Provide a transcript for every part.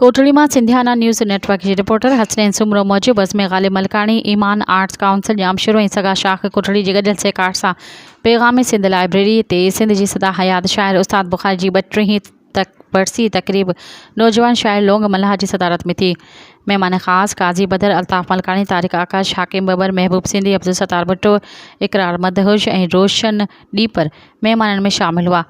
ڪوٽڙي مان Sindhiana news network جي reporter Hasnain Soomro موجب عظمي غالب ملڪاڻي، ايمان آرٽس ڪائونسل ڄامشورو ۽ سگا شاخ ڪوٽڙي جي گڏيل سهڪار سان پيغام سنڌ لائبريري تي سنڌ جي سدا حيات شاعر استاد بخاري جي ٻٽيهين ورسي تقريب نوجوان شاعر لونگ ملاح جي صدارت ۾ ٿي. مهمان خاص قاضي بدر، الطاف ملڪاڻي، طارق آڪاش، حاڪم ٻٻر، محبوب سنڌي، عبدالستار ڀٽو، اقرار مدهوش ۽ روشن ڏيپر مهمانن ۾ شامل هئا.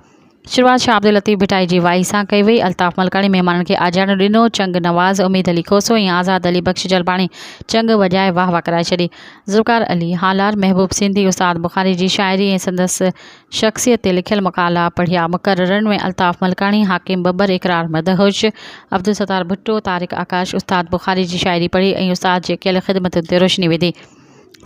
شروعات شاهه عبداللطيف ڀٽائي جي وائي سان ڪئي وئي. الطاف ملڪاڻي مهمانن کي آجياڻو ڏنو، چنگ نواز اميد علي کوسو ۽ آزاد علي بخش جلباڻي چنگ وڄائي واهه واهه ڪرائي ڇڏي. ذوالفقار علي هالار، محبوب سنڌي، استاد بخاري جي شاعري ۽ سندس شخصيت تي لکيل مقالا پڙهيا. مقررن ۾ الطاف ملڪاڻي، حاڪم ٻٻر، اقرار مدهوش، عبدالستار ڀٽو، طارق آڪاش استاد بخاري جي شاعري پڙهي ۽ استاد جي ڪيل خدمتن تي روشني وڌي.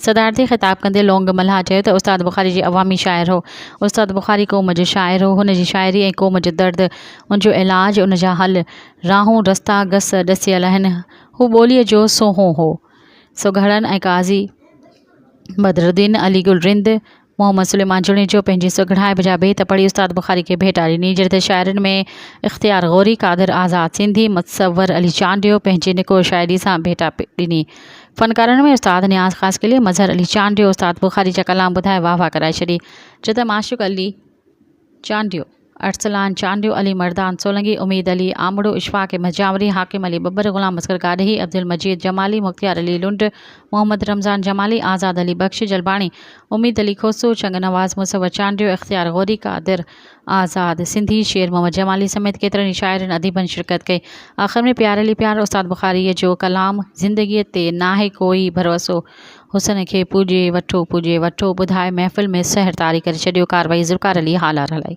صدارت کي خطاب ڪندي لونگ ملهاء چيو ته استاد بخاري جي عوامي شاعر هو. استاد بخاري قوم جو شاعر هو. هن جي شاعري ۽ قوم جو درد، ان جو علاج، ان جا حل، راهون، رستا، گس، ڏسيل آهن. هو ٻوليء جو سونهون هو. سو گهڙن ۽ قاضي بدرالدين، علي گل رند، محمد سليمان جوڻيجو پنهنجي سگهڙائپ جا بيت پڙهي استاد بخاري کي ڀيٽا ڏني، جڏهن ته شاعرن ۾ اختيار غوري، قادر آزاد سنڌي، متصور علي چانڊيو پنهنجي نڪور شاعري سان ڀيٽا ڏني. فنڪارن ۾ استاد نياز خاص قلعي، مظهر علي چانڊيو استاد بخاري جا ڪلام ٻڌائي واهه واهه ڪرائي ڇڏي، جو ته معشوق علي، چانڊيو، ارسلان چانڊيو، علي مردان سولنگي، اميد علي آمڙو، اشفاق احمد جاوري، حاڪم علي ٻٻر، غلام اصغر گاڏهي، عبدالمجيد جمالي، مختيار علي لنڊ، محمد رمضان جمالي، آزاد علي بخش جلباڻي، اميد علي کوسو، چنگ نواز مصور چانڊيو، اختيار غوري، قادر آزاد سنڌي، شير محمد جمالي سميت ڪيترن ئي شاعرن اديبن شرڪت ڪئي. آخر ۾ پيار علي پيار، استاد بخاريء جو ڪلام زندگيء تي ناهي ڪوئي ڀروسو، حسن کي پوڄي وٺو پوڄي وٺو ٻڌاء محفل ۾ سحر طاري ڪري ڇڏيو ڪارروائي ذوالفقار علي هالار هلائي